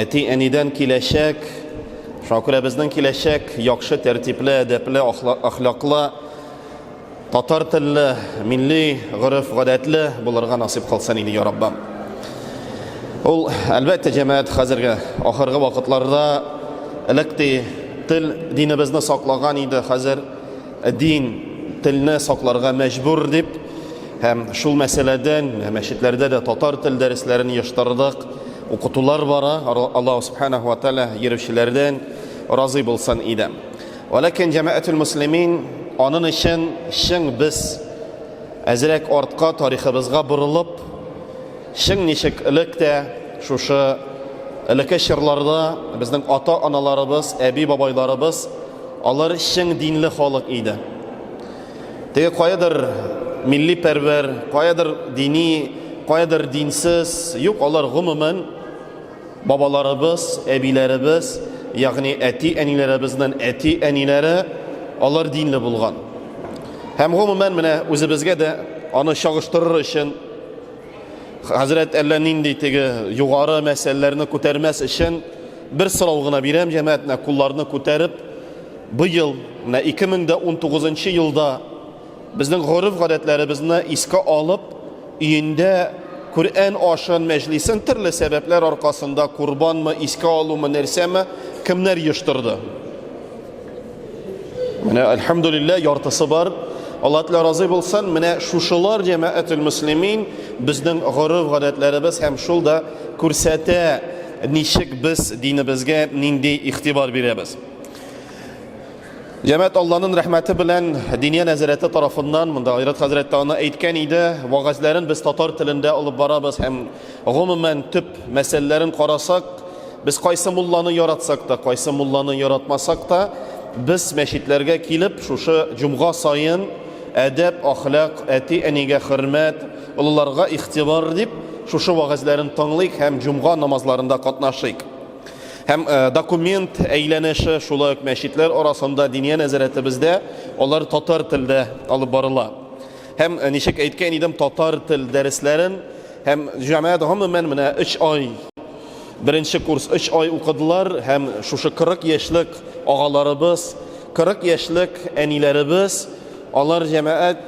Әти-әнидән киләчәк, Шакүрәбезнең киләчәк яхшы тәртипле, әдәпле, әхлаклы, татар телле, милли гореф-гадәтле булырга насыйп кылсын иде, я Раббым. Ул, әлбәттә, җәмәгать хәзерге ахыргы вакытларда элек ди тел динебезне саклаган иде, хәзер дин телне сакларга мәҗбүр дип һәм шул мәсьәләдән мәчетләрдә дә татар тел дәресләрен оештырдык. Укытулар бара, Аллаһу Субханаху ва Тәгалә йөрүчеләрдән разый булсын иде. Вәләкин җәмәгател муслимин анын өчен чың без әзрәк артка тарихыбызга борылып, чың ничек элек тә шушы элеке чорларда безнең ата-аналарыбыз, әби-бабайларыбыз алар чың динле халык иде. Теге каядыр милли пәрвәр, каядыр дини, каядыр динсез, юк, алар гомумән бабаларыбыз, әбиләребез, ягъни әти-әниләребезнең әти-әниләре алар динле булган. Һәм гомумән менә үзебезгә дә аны чагыштырыр өчен хәзрәт әллә нинди теге югары мәсьәләләрне күтәрмәс өчен бер сорау гына бирәм җәмәгатенә кулларны күтәреп Быел, менә 2019 нчы елда, безнең гореф-гадәтләребезне искә алып, өендә Коръән ашын, мәҗлисен төрле сәбәпләр аркасында, Корбанмы, искә алумы, нәрсәме, кемнәр оештырды? Менә, әлхәмдүлилләһ, яртысы бар. Алла Тәгалә разый булсын, менә шушылар җәмәгател мөслимин, безнең гореф-гадәтләребез һәм шул да күрсәтә, ничек без динебезгә нинди игътибар бирәбез. Җәмәт Алланың рәхмәте белән Диния нәзарәте тарафыннан монда Айрат хәзрәт тә аны әйткән иде, вагазләрен без татар телендә алып барабыз һәм гомумән төп мәсьәләләрен карасак, без кайсы мулланы яратсак та, кайсы мулланы яратмасак та, без мәчетләргә килеп, шушы җомга саен әдәп, ахлак, әти-әнигә хөрмәт, олыларга игътибар дип, шушы вагазләрен тыңлыйк һәм җомга намазларында катнашыйк. Һәм э, документ әйләнеше шулай ук мәчетләр арасында диния нәзарәтебездә алар татар телдә алып барыла. Һәм э, ничек әйткән идем, татар тел дәресләрен һәм җәмәгать гомумән менә 3 ай беренче курс 3 ай укыдылар һәм шушы 40 яшьлек агаларыбыз, 40 яшьлек әниләребез алар җәмәгать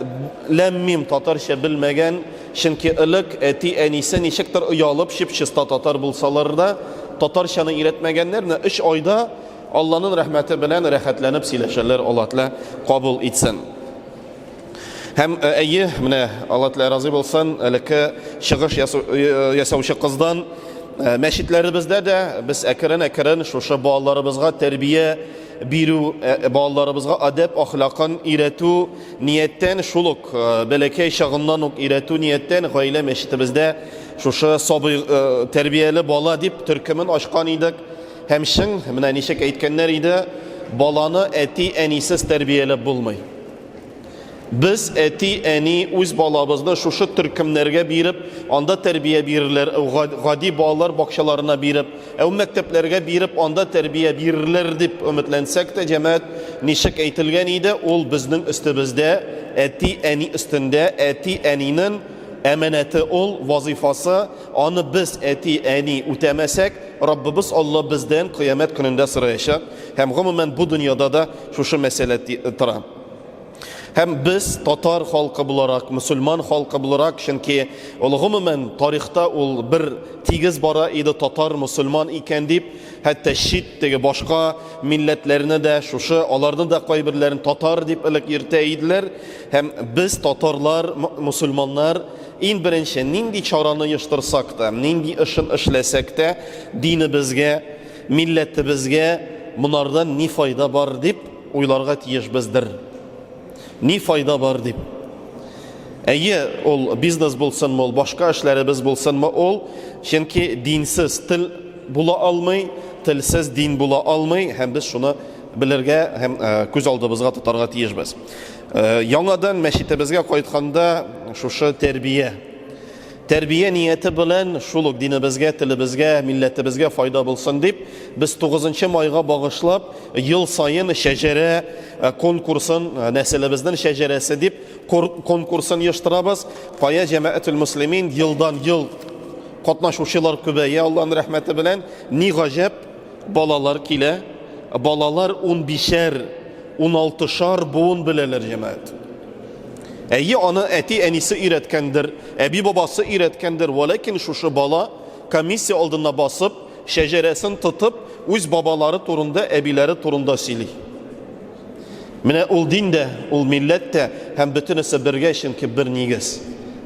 ләммим татарча белмәгән Чөнки элек әти-әнисе ничектер оялып, чип-чиста татар булсалар да, татарчаны өйрәтмәгәннәр, менә өч айда Алланын рәхмәте белән рәхәтләнеп сөйләшәләр, Алла Тәлә кабул итсен. Һәм, әйе, менә Алла Тәлә разый булсын, элекке чыгыш ясаучы кыздан, мәчетләребездә дә без әкрен-әкрен шушы балаларыбызга тәрбия бирү, балаларыбызга адәп-ахлакын өйрәтү, Нияттән шул ук, бәләкәй чагыннан ук өйрәтү нияттән гаилә мәчетебездә шушы сабый тәрбияле бала дип төркемен ачкан идек. Һәм чын, менә ничек әйткәннәр иде, баланы әти-әнисез тәрбияләп булмый. Без әти-әни үз балабызны шушы төркемнәргә биреп, анда тәрбия бирерләр, гади балалар бакчаларына биреп, Ә ул мәктәпләргә биреп, анда тәрбия бирерләр дип өметләнсәк тә, җәмәгать, ничек әйтелгән иде, ул безнең өстебездә, әти-әни өстендә, әти-әнинен әманәте ул, вазыйфасы, аны без, әти-әни, үтәмәсәк, Раббыбыз Алла бездән кыямәт көнендә сораячак, һәм, гомумән, бу дөньяда да шушы мәсьәлә тора. Һәм без татар халкы буларак, мөселман халкы буларак, чөнки ул гомумән тарихта ул бер тигез бара иде татар, мөселман икән дип, хәтта чит теге башка милләтләрне дә шушы, аларны да кайберләрен татар дип элек йөртә иделәр. Һәм без татарлар, мөселманнар иң беренче нинди чараны оештырсак та, нинди эшен эшләсәк тә, динебезгә, милләтебезгә монардан ни файда бар дип, Уйларга тиешбездер, ни файда бар дип. Әйе, ул бизнес булсынмы, ул башка эшләребез булсынмы, ул, чөнки динсез тел була алмый, телсез дин була алмый, һәм без шуны белергә һәм күз алдыбызга тотарга тиешбез. Яңадан мәчетебезгә кайтканда, шушы тәрбия, Тәрбия нияте белән, шул ук динебезгә, телебезгә, милләтебезгә файда булсын дип, без 9 майга багышлап ел саен шәҗәрә конкурсын, нәселебезнең шәҗәрәсе дип конкурсын оештырабыз. Кая җәмәәтул муслимин елдан-ел катнашучылар күбәя, Аллаһның рәхмәте белән. Ни гаҗәп, балалар килә. Балалар унбишәр, уналтышар буын беләләр, җәмәәт. Әйе, аны әти-әнисе өйрәткәндер, әби-бабасы өйрәткәндер, вәләкин шушы бала, комиссия алдында басып, шәҗәрәсен тотып, үз бабалары турында, әбиләре турында сөйли. Менә ул дин дә, ул милләт тә һәм бөтенесе бергә, чөнки бер нигез.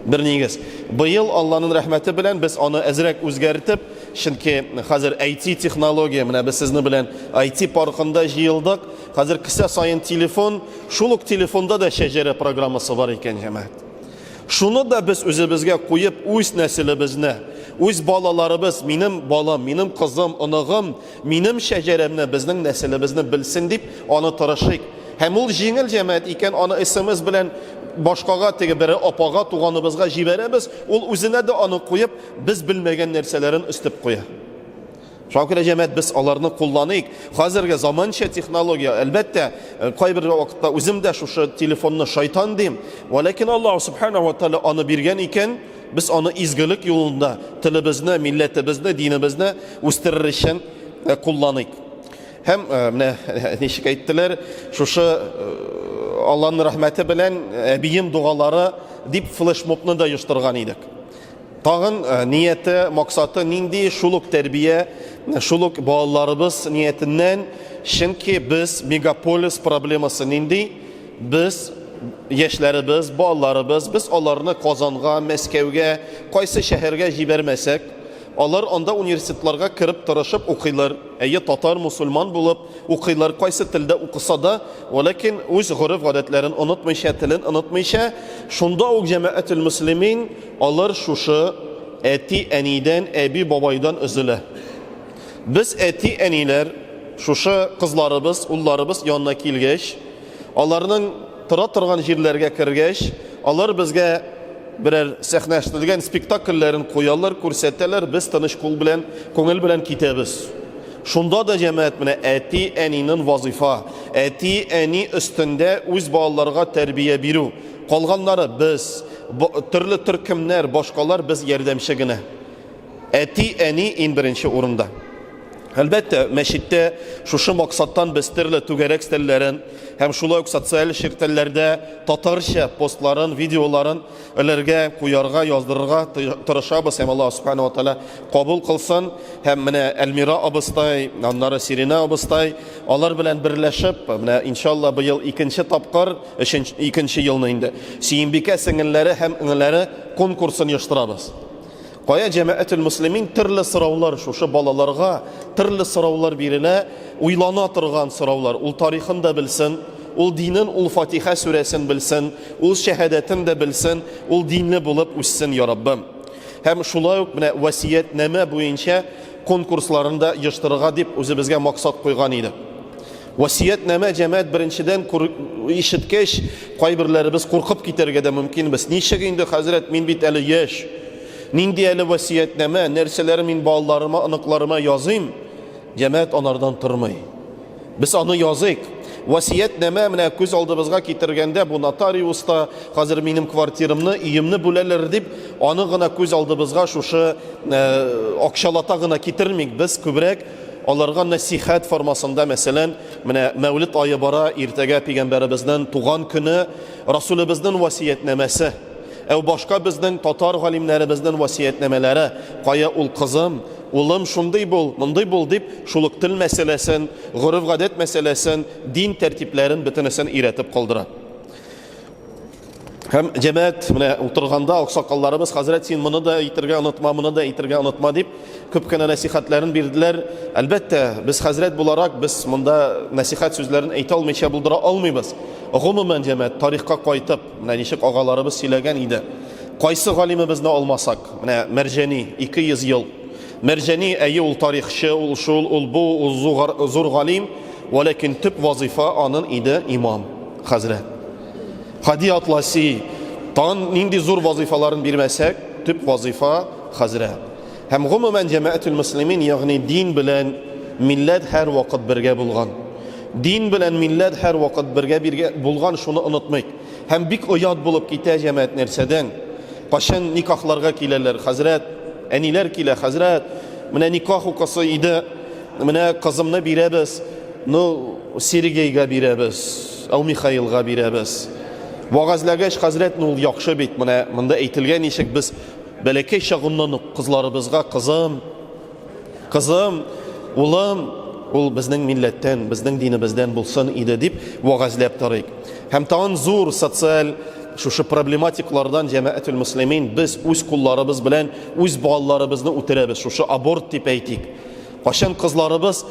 Бер нигез. Быел Алланың рәхмәте белән без аны әзрәк үзгәртеп, чөнки хәзер IT технология, менә без сезнең белән IT паркында җыелдык, Хәзер кесә саен телефон, шул ук телефонда да шәҗәрә программасы бар икән, җәмәгать. Шуны да без үзебезгә куеп, үз нәселебезне, үз балаларыбыз, минем балам, минем кызым, оныгым, минем шәҗәрәмне, безнең нәселебезне белсен дип, аны тырышыйк. Һәм ул җиңел җәмәгать икән, аны СМС белән башкага теге бер апага, туганыбызга җибәрәбез, ул үзенә дә аны куеп, без белмәгән нәрсәләрен өстеп куя. Шуңа күрә, җәмәгать, без аларны кулланыйк. Хәзерге заманча технология, әлбәттә, э, кайбер вакытта үзем дә шушы телефонны шайтан дим. Вә ләкин Аллаһ субхана ва тааля аны биргән икән, без аны изгелек юлында, телебезне, милләтебезне, динебезне үстерер өчен э, кулланыйк. Һәм э, менә ничек әйттеләр, шушы Аллаһның рәхмәте белән әбием дугалары дип флешмобны да оештырган идек. Тагын нияте, максаты нинди, шул ук тәрбия, шул ук балаларыбыз ниятеннән, чөнки без мегаполис проблемасы нинди, без яшьләребез, балаларыбыз, без аларны Казанга, Мәскәүгә, кайсы шәһәргә җибәрмәсәк, алар анда университетларга кереп тырышып укыйлар, әйе, татар, мусульман булып, укыйлар, кайсы телдә укыса да, ләкин үз гореф-гадәтләрен онытмыйча, телен онытмыйча, шунда ук җәмәгател муслимин алар шушы әти-әнидән, әби-бабайдан өзелә. Без әти-әниләр шушы кызларыбыз, улларыбыз янына килгәч, аларның тора торган җирләргә кергәч, алар безгә берәр сәхнәштелгән спектакльләрен куялар, күрсәтәләр, без тыныч кул белән, күңел белән китәбез. Шунда да җәмәгать менә әти, әнинен вазыйфа, әти, әни өстендә үз балаларга тәрбия бирү. Калганнары без, төрле төркемнәр, башкалар без ярдәмче генә. Әти, әни ин беренче урында. Әлбәттә, мәчеттә шушы максаттан без төрле түгәрәк стәлләрен һәм шулай ук социаль челтәрләрдә татарча постларын, видеоларын Эләргә, куярга, яздырырга тырышабыз һәм Аллаһ Субхана ва Тәгалә кабул кылсын. Һәм менә Әлмира абыстай, аннары Сирина абыстай, алар белән берләшеп, менә иншалла быел икенче тапкыр, өченче икенче елны инде Сөембикә сеңелләре һәм иңелләре конкурсын оештырабыз. Кая җәмәәтел муслимин төрле сораулар шушы балаларга төрле сораулар бирелә, уйлана торган сораулар. Ул тарихын да белсен, ул динен, ул Фатиха сүрәсен белсен, ул шәһадәтен дә белсен, ул динле булып үссен, я Раббым. Һәм шулай ук менә васиятнамә буенча конкурсларында да дип үзебезгә максат куйган идек. Васиятнамә җәмәгать беренчедән ишеткәч, кайберләребез куркып китәргә дә мөмкинбез. Ничек инде, хәзрәт, мин бит әле яшь. Нинди әле васиятнамә, нәрсәләр мин балаларыма, оныкларыма языйм? Җәмәгать анардан тормый. Без аны языйк. Васиятнамә менә күз алдыбызга китергәндә бу нотариуста хәзер минем квартирамны, өемне бүләләр дип, аны гына күз алдыбызга шушы акчалата гына китермик. Без күбрәк Аларга нәсыйхәт формасында, мәсәлән, менә Мәүлид ае бара, иртәгә пигамбәребезнен туган көне, Расулебезнен васиятнамәсе, әү башка безнең татар галимнәребезнен васиятнамәләре, кая ул кызым, улым, шундый бул, мондый бул, дип, шул ук тел мәсьәләсен, гореф-гадәт мәсьәләсен, дин тәртипләрен бөтенесен өйрәтеп калдыра. Һәм җәмәәт менә утырганда аксакалларыбыз хәзрәт син моны да әйтергә онытма, моны да әйтергә онытма дип күп кенә нәсихәтләрен бирделәр. Әлбәттә, без хәзрәт буларак без монда нәсихәт сүзләрен әйтә алмыйча булдыра алмыйбыз. Гомумән җәмәәт тарихка кайтып, менә ничек агаларыбыз сөйләгән иде. Кайсы галимебезне алмасак, менә Мәрҗәни 200 ел. Мәрҗәни әйе ул тарихчы, ул шул, ул бу, ул зур галим, валәкин төп вазифа анын иде имам хәзрәт. Хади Атласи, тагын нинди зур вазыйфаларын бирмәсәк, төп вазыйфа хәзрә. Һәм гомумән җәмәәтул муслимин, ягъни дин белән милләт һәр вакыт бергә булган. Дин белән милләт һәр вакыт бергә биргә булган, шуны онытмыйк. Һәм бик оят булып китә җәмәәт нәрсәдән? Качан никахларга киләләр, хәзрәт, әниләр килә, хәзрәт, менә никах укысы иде, менә кызымны бирәбез, ну, Сергейга бирәбез. Ул Михаилга бирәбез. Вәгазьләгәч, хәзрәт, ну ул яхшы бит, менә монда әйтелгән ничек без бәләкәй чагыннан ук кызларыбызга кызым, кызым, улым, ул безнең милләттән, безнең динебездән булсын иде дип вәгазьләп торыйк. Һәм тагын зур социаль шушы проблематиклардан җәмәәтүл муслимин без үз кулларыбыз белән үз балаларыбызны үтерәбез, шушы аборт дип әйтик. Кайчан кызларыбыз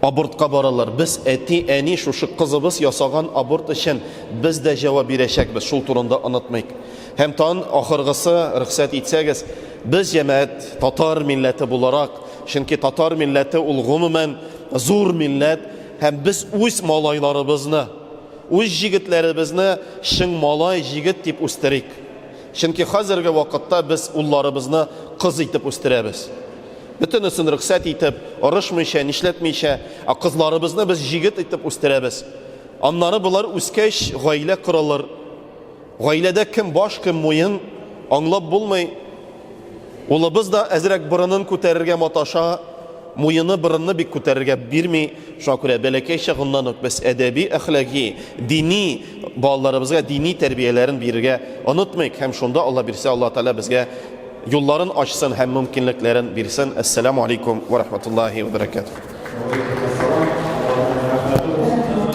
Абортка баралар. Без, әти, әни, шушы кызыбыз ясаган аборт өчен без дә җавап бирәчәкбез, шул турында онытмыйк. Һәм тан ахыргысы, рөхсәт итсәгез, без җәмәгать, татар милләте буларак, чөнки татар милләте ул гомумән зур милләт, һәм без үз малайларыбызны, үз җегетләребезне чың малай, җегет дип үстерик. Чөнки хәзерге вакытта без улларыбызны кыз итеп үстерәбез. Бөтенесен рөхсәт итеп, орышмыйча, нишләтмичә, ә кызларыбызны без җигет итеп үстерәбез. Аннары болар үскәч, гаилә корылыр. Гаиләдә кем баш, кем муен, аңлап булмый. Улыбыз да әзрәк борынын күтәрергә маташа. Муены, борынны бик күтәрергә бирми. Шуңа күрә бәләкәй чагыннан ук без әдәби, әхлаги, дини, балаларыбызга дини тәрбияләрен бирергә онытмыйк һәм шунда Алла бирсә, Алла Тәгалә безгә юлларын ачсын һәм мөмкинлекләрен бирсен. Әссәламү алейкум вә рахматуллаһи вә бәрәкәтүһ. Вәгаләйкүмәссәлам, Аллаһның рәхмәте булсын сиңа.